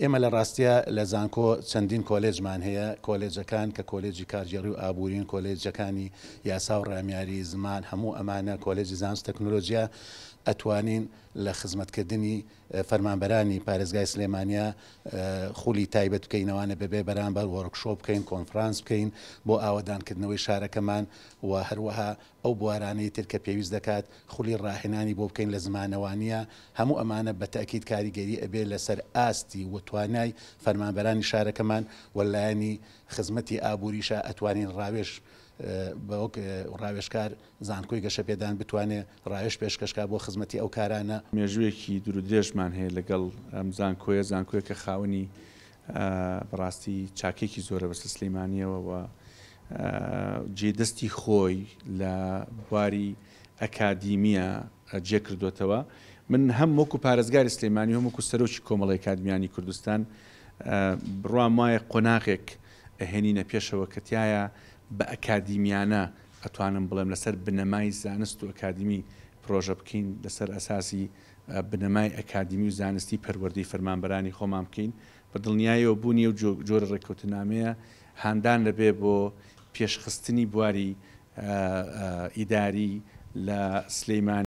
ئێمە لە ڕاستیا لە زانکۆ چەندین کۆلێجمان هەیە، کۆلێجەکان کە کۆلێجی کارگێڕی و ئابوورین، کۆلێجەکانی یاسا و ڕامیاری، زمان، هەموو ئەمانە، کۆلێجی زانست و تەکنۆلۆجیا، ئەتوانین لە خزمەتکردنی فەرمانبەرانی پارێزگای سلێمانیا خولی تایبەت بکەینەوانە بەبێ بەرامبەر وۆرکشۆپ بکەین، کۆنفرانس بکەین بۆ ئاوەدانکردنەوەی شارەکەمان و هەروەها ئەو بوارانەی تر کە پێویست دەکات خولی ڕاهێنانی بۆ بکەین لە زمانەوانییە، هەموو ئەمانە بە تەئکید کاریگەری ئەبێ لە سەر ئاستی و توانای فەرمانبەرانی شارەکەمان و لایەنی خزمەتی ئابووریشە ئەتوانین ڕاوێژ بە وەک ڕاوێژکار زانکۆی گەشەپێدان بتوانێ ڕاوێژ پێشکەش کا بۆ خزمەتی ئەو کارانە. مێژووێکی دوورودرێژمان هەیە لەگەڵ ئەم زانکۆیە، زانکۆیەکە خاوەنی بەڕاستی چاکێکی زۆرە بەسەر سلیمانیەوە و جێ دەستی خۆی لە بواری ئەکادیمیە جێ کردوتەوە من هەم وەکو پارێزگاری سلێمانی هەم وەکو سەرۆکی کۆمەڵی کادمیانی کوردستان بڕوام وایە قۆناغێک ئەهێنینە پێشەوە کەتیایە بە ئەکادیمیانە ئەتوانم بڵێم لەسەر بنەمای زانست و ئەکادمی پرۆژە بکەین لەسەر ئەساسی بنەمای ئەکادیمی و زانستی پەروەردەی فەرمانبەرانی خۆمان بکەین، بە دڵنیایەوە بوونی ئەو جۆرە ڕێککەوتننامەیە هاندان دەبێت بۆ پێشخستنی بواری ئیداری لە سلێمانی.